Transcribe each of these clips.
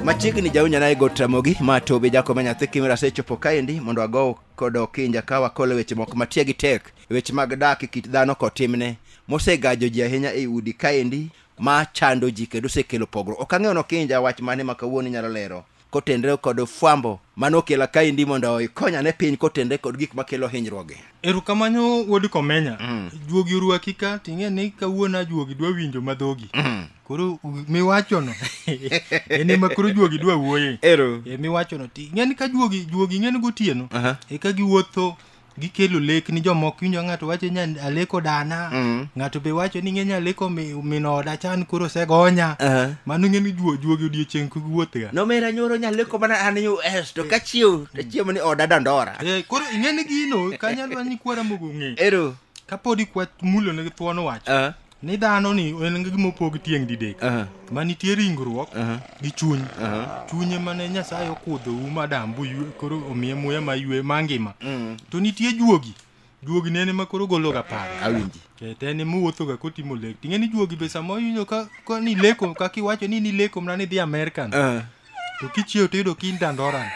machiegni jaunyana e got ramogi ma tobe jakome nyathi kimera asechopo kaendi mondo ago kod okinja ka wakolo weche moko matie gi tek weche mag dak e kit dhano kod timne mosegajo ji ahinya e udi kaendi ma chando ji kendo osekelo pogruok ok ang'eyo nokinja wach mane ma kawuono inyalo lero kotenre kod fwambo mane okela kaendi mondo ikonya ne piny kotenre kod gik makelo hinyruoge erokamano wuod komenya mm. juogi orwaki ka ting'e ni kawuono ajuogi dwa winjo madhogi mm. koro miwachono en ema koro juogi dwa wuoye ero e, miwachono ting'e ni ka juogi juogi ng'e ni gotieno uh -huh. eka giwuotho gikelo lek ni jomoko winjo ng'ato wacho ni aleko dana Mm. ng'ato be wacho ni ng'eny aleko mi- min oda chan koro osegonya Aha. mano ng'e ni juo juogi odiechieng' kik wuothga nomera nyoro nyaleko mana an us to ka chiew to chiemo ni oda dandora Eh, koro ing'e ni gino kanyalwa ni kwara mogo ng'e ero kapod ikwa mulo ne thuon wacho Ah, ni dhano ni en gi gima opog tieng' didek Aha. ma nitie ringruok Aha. gi chuny Aha. chunye mane nyasaye okudho um adam boywe koro omiye muya maywe mangima Mm. to nitie juogi juogi ne en ema koro gologa paro Awinji. Eh, to en ema owuothoga kotimo lek ting'e ni juogi be sama oyudo ka, ka ni leko kaka iwacho ni nileko mana ni dhi american Ah. to kichiew to iyudo kin dandoran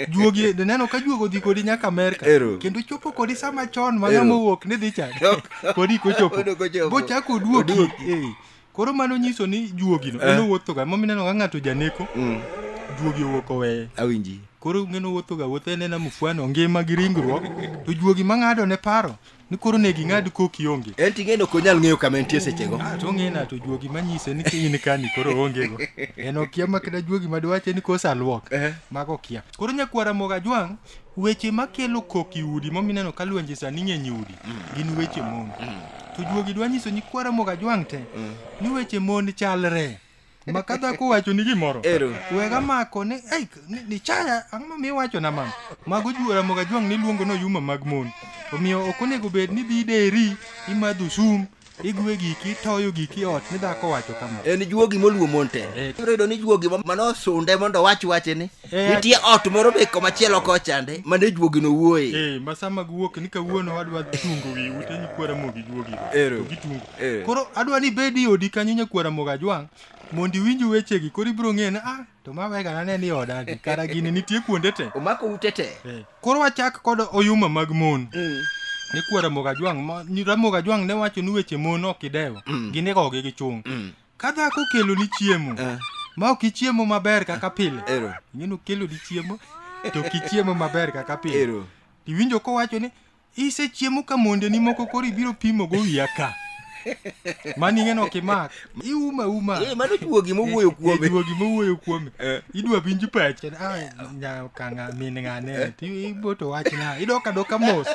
juogi e, neno ka juogo dhi kodi nyaka amerka kendo chopo kodi sama chon ma ng'ama owuok ni dhi chadi kodi kochopo bochako oduoki eh. koro mano nyiso ni juogino eh. en owuothoga momineno ga ng'ato janeko mm. juogi owuok oweye awinji koro ng'eno wuothoga wuotho en ena mufwano ngima gi ringruok to juogi mang'ado ne paro ni koro ne ging'ad koki onge en ting'eno ok onyal ng'eyo kama entie sechego Ah, to ong'e na to juogi manyise ni kiny ni kani koro ongego en okia makda juogi madwache ni kosa luok Ehe. mago okia koro nyakwara moga jwang' weche makelo kok i udi momineno ka lwenje sani ng'eny i udi gin weche mon to juogi dwa nyiso nyikwara moga jwang' te ni weche mon chalre makata kuwacho ni gimoro Ero. wega mako ni ei ni, ni chaya ang'o ma miwacho na mama mago juora moga jwang' ni luongo no yuma mag mon omiyo ok onego bed ni dhi deri imadho sum igwe giki itoyo giki ot ni dhako wacho kama en juogi moluwo mon te Eh. ibiro yudo ni juogi ma- manosunde mondo wach wache ni nitie ot moro be komachielo kochande mane juogino wuoye Eh, ma sama giwuok ni kawuono adwa tungo wi ute nyikwara mogi juogi Ero. to gitungo Eh. koro adwa ni bed i odi kanyo nyakwara moga jwang' mondo iwinj wechegi koro ibiro ng'e ni ah to ma wega nane ni oda ni kara gini nitie kuonde te omako ute te Eh, koro wachak kod oyuma mag mon ne kwara moga jwang' ma- ni ramoga jwang' ne wacho ni weche mon ok idewo ginigogi gi chung' Ka dhako okeloni chiemo Eh. ma ok ichiemo maber kaka pile, Ero. ing'eni okeloni chiemo to ok ichiemo maber kaka pile. Ero. Iwinjo kowacho ni isechiemo ka mondeni moko koro ibiro pimo go wiya ka. Mano ing'eni ok imak. Iuma uma. Eh, mano juogi mowuoyo kuome. Eh, Juogi mowuoyo kuome. Eh. Idwa winj pach. Ah, nya kanga min ng'ane. Ti iboto wachna. Idoka doka mos.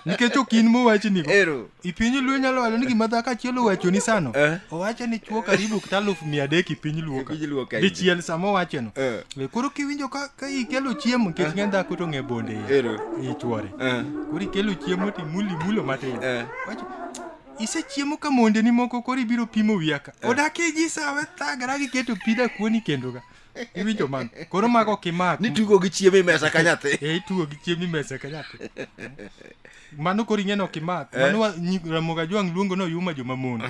Nikech ok in mowachni go. Ero. I piny luo inyalo wacho ni gima dhako achiel owachoni sano Eh. owacho ni chuo karibu kata aluf mia adek i piny luo ka E piny luo ka dichiel sama owachono Eh. Eh, koro kiwinjo ka ka ikelo chiemo nikech ng'e dhako to ng'e bonde iye. Ero. i chuore Eh. koro ikelo chiemo to imulo imulo matin Eh. Wacho, isechiemo ka mondeni moko koro ibiro pimo wiya ka odak iji sawe thagara giketo pida kuoni kendo ka iwinjo man koro mago ok imak ni tugo gi chiemo e mesa ka nyathi e itugo gi chiemo imesa ka nyathi mano koro ing'e ni ok imak Eh. mano wa- nyi- ramogi ajwang' luongo ni oyuma jomamon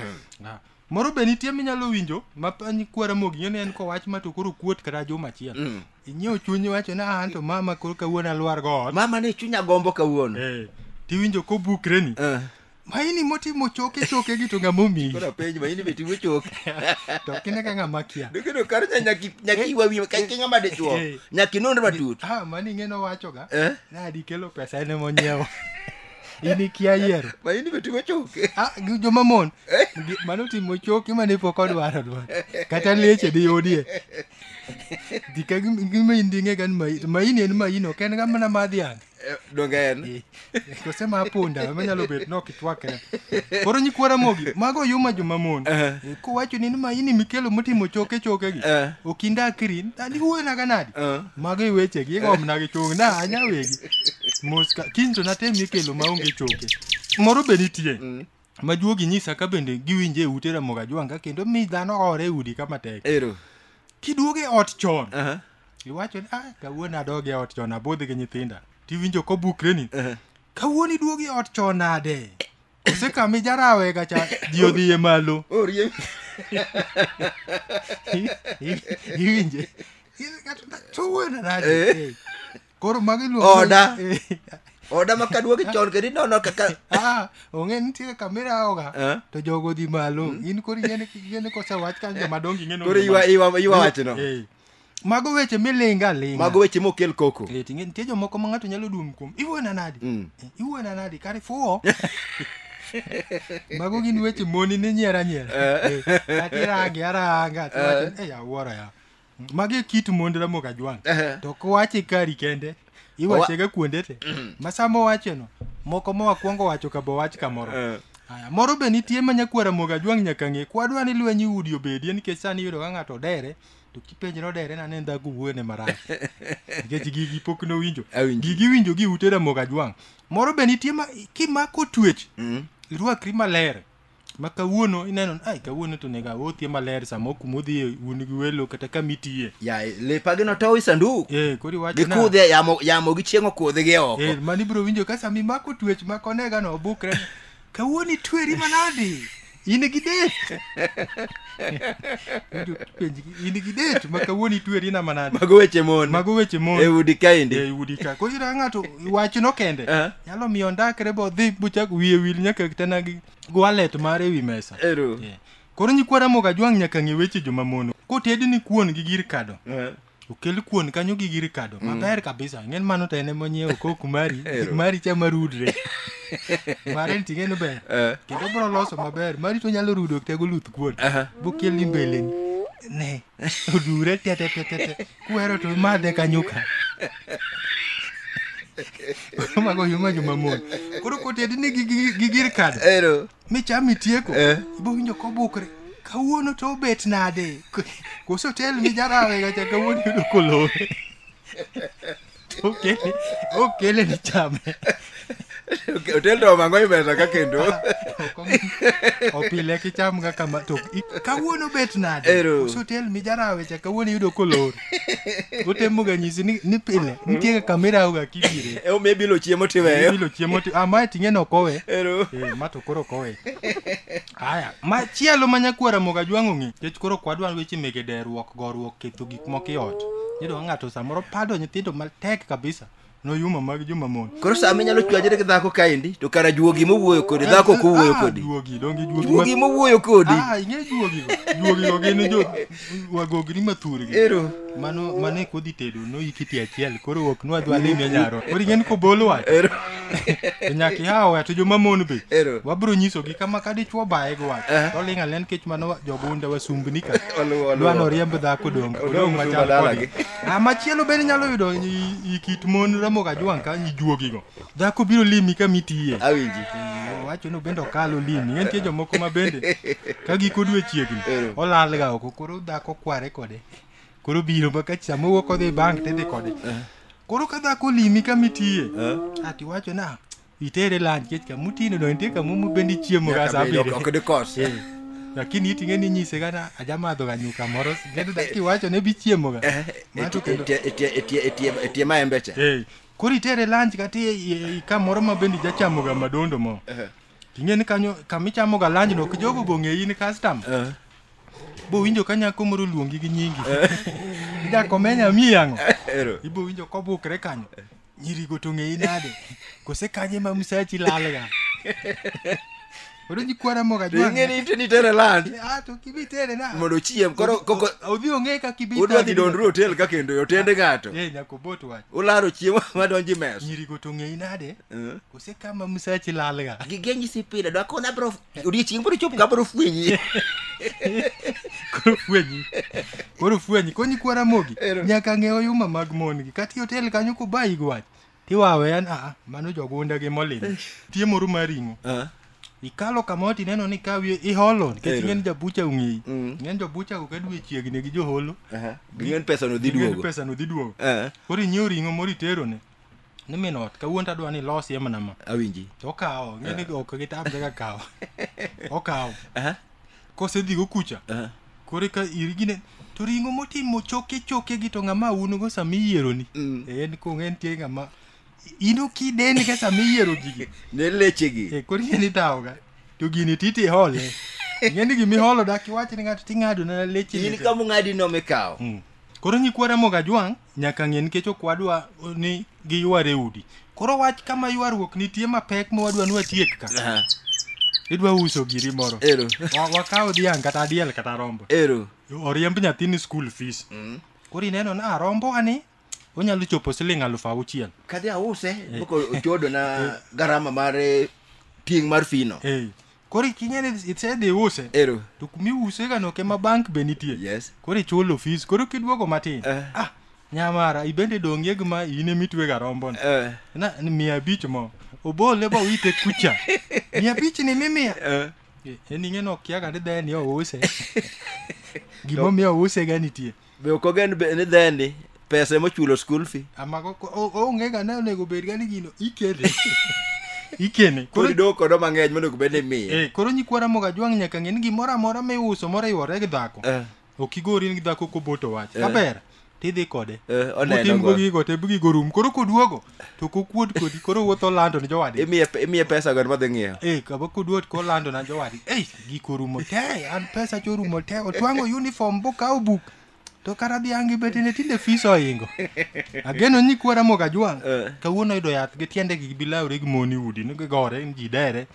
Ah. moro be nitie minyalo winjo ma pa- ni kwa ramogi ing'e ni en kowach ma to koro kuot kata juma achiel Mm. inyiewo chunyi wacho ni "Ah, an to mama koro kawuono alwar go ot mama ne chunya gombo kawuono Eh, tiwinjo kobukreni Eh. maini motimo choke choke gi to ng'ama omiyi Koro penj ma in be timo choke. to ok ine ka ng'ama kia Dikino kar nya nyaki nyaki wawi ka kinga made chuo. Eh. Nyaki nonro matut. ah mani ing'e nowachoga Eh? nadi kelo pesa ene monyiewo in ikia yiero Ma in be timo choke. Ah, gi joma mon Gi- mano timo choke mane pok odwaro dwaro kata leche di yudie dika gima inding'e gan maini en maini ok en ga mana madhiang' Eh, donge en kose ma apunda ema nyalo bet ni ok itwakre koro nyikwa ramogi mago yuma joma mon Eh. Eh, kowacho ni ma ini mikelo motimo choke choke gi Eh. okinda akiri ani wuoyona ga nadi Eh. mago iweche gi igomna gi chung na anya wegi moska kiny to natem ikelo maonge choke moro be nitie ma juogi nyisa ka bende giwinje e ute Ramogi Ajwanga kendo mi dhano hore e udi kama tek. Ero. Kiduogo e ot chon, Aha. iwacho ni ah, kawuono adog e ot chon abudh gi nyithinda. Tiwinjo kobukre ni Aha. kawuono iduogo e ot chon nade? Ose kami jarawe ga cha ji odhi e malo. Orie. I- i- Iwinje. Kawuono nade? Eh. Eh. Koro magi luongo Oda. Oda ma kaduogi chon kendo inono kaka Ah, ong'e nitie kamera oga Eh? to jogo dhi malo in koro ing'eni ing'eni kosewach kanyo joma dongi ing'eni koro ywa ywa ywa wachno. Eh. mago weche milinga alinga Mago weche mokel koko. Eh, ting'e nitie jomoko ma ng'ato nyalo dum kuom iwuona nadi Mm. Eh, iwuona nadi kare fuwo mago gin weche moni ni nyiera nyiera Eh, kata irange aranga tiwacho, "Eh, awuoro ya magi e kit mond ramogi ajwang' Ehe. to kowache kari kende iwachega kuonde te ma sama owacheno moko ma wakwongo wacho ka bowach kamoro Eh. Aya, moro be nitie ma nyakwar ramogi ajwang' nyaka ng'e kwadwa ni lweny udi obedie nikech sani iyudo ka ng'ato odere to kipenjre odere na ne ndhago wuone marach nikech gigi pok nowinjo Awinjo. gigi winjo gi ute ramogi ajwang' moro be nitie ma kimako twech Mm. irwakri maler ma kawuono ineno ni ai kawuono to onego awuothie maler sama ok kuma odhiye un gi welo kata kama itiye ya lepa gi notow i sanduk eh koro iwacho na- gikudhe yamo yamo gi chieng' okudhi gi oko Eh, mani biro winjo ka sama imako twech ma konegano obukre kawuono itweri manadi in gi dek Winjo penj gi- in gi det ma kawuono itweri na manade mago weche mon mago weche mon e udi kaendi e udi ka koro ira ng'ato wachno kende Eh. nyalo miyo ondakre bodhi bochak wiye wil nyaka tena gi gwalet mare ewi mesa ero Yeah. koro nyikwara moga jwang' nyaka ng'e weche joma mono kotedni kuon gi gir kado Eh. okel kuon kanyo gi gir kado mm. maber kabisa ing'en mano to en ema onyiewo kok mari mari cha marudre mare ni ting'e ni ber eh. kendo bro loso maber mari to nyalo rudo tego luth kuon bokel ni mbeleni ne odure tetetetete kuhero to madhe kanyo ka mago yuma juma mon koro kotedi ni gi gir kado micham itieko Eh. ibowinjo kobukre kawuono to obet nade Ko- koso tel mijarawe gacha kawuono yudo kolowe To okele okele ni chame otel to omango imesa ka kendo Ok omi- opile kicham ga kama to i- kawuono bet nade Ero. koso tel mijarawe cha kawuono yudo kolore utemoga nyisi ni, ni pile nitie kaka mirauga kibire e omiye bilo chiemo tiweyo bilo chiemo ti ah, mae ting'e nokowe Ero. Eh, ma to koro kowe aya machielo ma nyakwara moga jwang'o ng'i kech koro kwadwa weche mege deruok goruok ketho gik moko e ot iyudo ka ng'ato samoro pado nyithindo matek kabisa Noyuma mag joma mon. Koro sama inyalo chwanyore gi dhako kaendi to kara juogi mowuoyo kodi dhako ok owuoyo Ah, kodi. Juogi, donge juogi. Juogi ma- mowuoyo kodi. Ah, ing'e juogi go. Juogi go gin jo wagogni mathurgi. Ero. Mano mano e kodhi tedo no ikiti achiel koro ok nwa dwa lime nyaro. Koro ing'e ni kobol wach. Ero. To nyaka ihawo to joma mon be. Ero. Wabro nyisogi kama ka dichwo baye go wach. Eh. To ling' alen kech mano jogunda wasumbni ka. Oluwo, oluwo. Dwa noriemb dhako donge. Odong' Odong' machal machal kodgi. kodgi. Ah, machielo bende inyalo yudo i- i kit mon Ramogi Ajwang' ka ijuogigo. Dhako biro limi ka mitiye. Awinji. Owacho ni bende okalo limi. Nitie jomoko ma bende ka giko dwe chiegni olalga oko koro dhako kware kode. Koro biro ma ka chamo wuok odhi bank tidhi kode. Koro ka dhako limi ka mitiye. Ati wacho na itere lunch kech ka mutino no nitie kama mubendi chiemo ga saa abiriyo ok dikos Eh, lakini iting'e ni nyise kana ajamadho ga nyuka moro kendo da- kiwacho ne bichiemo ga Mato kendo- etie maembecha Eh, koro itere lunch kata i- i- i- kamoro ma bende jachamo ga madondo mo ting'e ni kanyo kamichamo ga lunch no kijogo bong'eyi ni custom bowinjo ka nyako moro luongi gi nyingi ijakomenya miyang'o ero ibowinjo kobukre kanyo nyirigo to ng'eyi nade kose kanye ma msachi lalga koro jikwara moga To ing'e ni iteni tere land to kibi tere na mondo ochiem koro koko odhi ong'e ka kibi udwa dhi dondru hotel ka kendo e otende ng'ato eh nyaka obot wach ularo chiemo madonjo e mes nyirigo to ng'eyi nade Eh. kose kama msachi lalga Gige nyisi pile dwa kona bro odiechieng' biro chopo ka biro fwenyi koro fwenyi koro fwenyi konyi kwara mogi Ero. nyaka ng'e oyuma mag mon gi kata hotel kanyo kubayi gi wach tiwawe an aa mano jogunda gi molin tie moro mar ring'o Ah, ikalo kamoro tineno ni ka wiye iholo nikech Ero. ing'en jabucha ong'eyi Mm. ng'en jobucha go ka dwe chiegni gi joholo aha. ging'en pesa no dhi ing'en duogo pesano dhi duogo Eh, koro inyiew ring'o moro iterone ni min ot kawuono tadwa ni ilosie mana ma awinji to okawo ng'eni ah. ok gitamre ka kawo okawo kosedhigo kucha kore ka irigine to ring'o motimo choke choke gi to ng'ama unugo sama iyieroni mm. e, en kong en tie ng'ama ino kideni ka sama iyiero gigi ne lechegi e, koro ing'eni tawoga to gini titi hole ing'eni gima iholo dak iwache ni ng'ato ting'ado na leche in kama ung'adi nomikawo mm. koro nyikwara moga jwang' nyaka ng'e nikech ok wadwa ni giyware udi koro wach kama ywaruok nitie mapek ma wadwa ni watiek ka Aha, idwa uso giri moro Ero. Wa- wakaw dhiang' kata diel kata rombo Ero. oriemb nyathini school fees koro ineno ni "Ah, rombo ani onyalo chopo siling aluf auchiel Kadhi ause, boko ochodo na garama mar eh, tieng' mar fino. Eh, koro ikinyani isedhiuse ero to kumiuse ga noke ma bank be nitie yes koro ichulo fees koro kiduogo matin Eh. ah nyamara ibende dongie gi ma in emitwega rombon eh na ni mia abich mo obole ba wite kucha mia abich ni mimia eh en ing'e nokiaga ni dheni ouse gimomiyo ouse ga nitie be ok ogen be- ni dhendi pesa emochulo school fee amako ko- o- oonge ga ne onego bed ga ni gino ikene ikene koro koro idoo kodo mang'eny monego bed ni miye eh, koro nyikwara moga jwang' nyaka ng'e ni gimoro amora miuso moriwore gi dhako Eh, ok igori gi dhako koboto wach Eh. kaber tidhi kode eh, oneno otim go go gigo te gigo rum koro koduogo to kokuod kodi koro wuotho olando ne jowadgi imiye imiye pesa go madhi ng'iewo Eh, kaba koduot kolando na jowadgi ei giko rumo te an pesa cho rumo te otwang'o uniform bokawo buk to kara dhiangi betene tinde fis ohingo ageno ni kwara moga jwang' Eh. kawuono yudo yath gi tiende gi bilawre gi moni udi ni gigore ni ji dere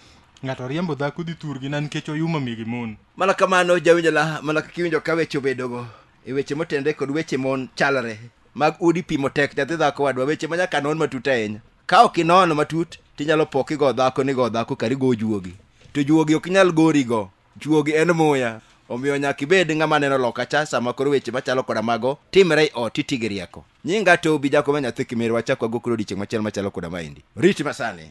ng'ato riembo dhako dhi thurgi na nikech oyuma mi gi mon mana kamano jawinjo la mana kaka iwinjo ka weche obedogo e weche motenre kod weche mon chalre mag udi pimo tek nyathi dhako wadwa weche ma nyaka non matut ahinya ka ok inono matut tinyalo po kigo dhako ni go dhako kari go juogi to juogi ok nyal gorigo juogi en muya omiyo nyaka ibed ng'ama neno loka cha sama koro weche machalo koda mago timre i ot iti gi rieko nyinga to obi jakoma nyathi kimerwa chakwa go koro odiechieng' machielo machalo koda maendi rit masani